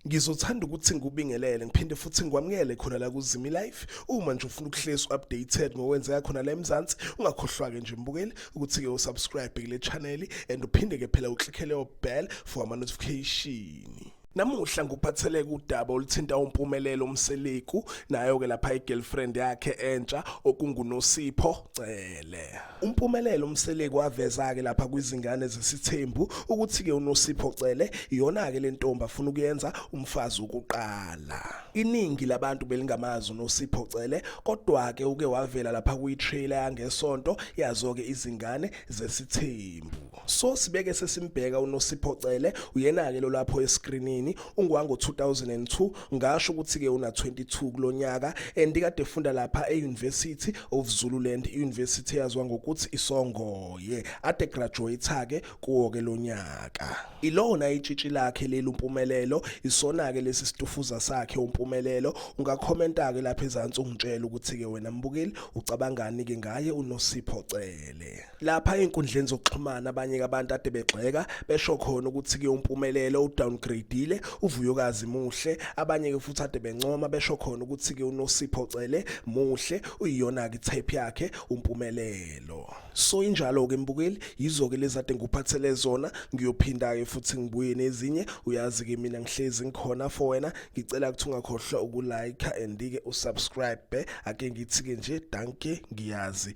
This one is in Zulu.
ngizothanda ukuthi ngikubingelele ngiphinde futhi ngikwamukele khona la kuzimi life uma nje ufuna ukuhlezi updated ngokwenzeka khona la eMzansi ungakhohlwa-ke nje mbukeli ukuthi-ke usubscribe kule channel and uphinde-ke phela uclickele obell for ama-notification Namuhla ngikuphatheleke udaba oluthinta uMpumelelo uMseleku nayo ke lapha igirlfriend yakhe entsha okunguNosipho Cele. UMpumelelo uMseleku waveza ke lapha kwizingane zesithembu ukuthi ke uNosipho Cele iyona ke lentombi afuna ukuyenza umfazi ukuqala. Iningi labantu belingamazi uNosipho Cele kodwa ke uke wavela lapha kuyi trailer yangesonto yazo ke izingane zesithembu. so sibeke sesimbheka uNosipho Cele uyena ke lo lapho escreenini ungwango 2002 ngasho ukuthi ke una 22 kulonyaka and kade efunda lapha eUniversity of Zululand University yazwa ngokuthi isongoye ade graduate ke kuwo ke lonyaka ilona itshitshi lakhe leli umpumelelo isona ke lesi situfuza sakhe umpumelelo ungakhomenta ke lapha ezantsi ungitshela ukuthi ke wena mbukeli ucabangani ke ngaye uNosipho Cele Africa. Lapha enkundleni zokuxhumana abanye abantu ade begxeka besho khona ukuthi kuyompumelelo udowngradeile uvuyokazi muhle abanye ke futhi ade bencoma besho khona ukuthi ke unosipho cele muhle uyiyona ke tape yakhe umpumelelo. So injalo ke mbukeli yizo ke lezade ngikuphathele zona ngiyophinda ke futhi ngibuye nezinye uyazi ke mina ngihlezi ngikhona for wena ngicela ukuthi ungakhohlwa ukulike and ke usubscribe ake ngithi ke nje danke ngiyazi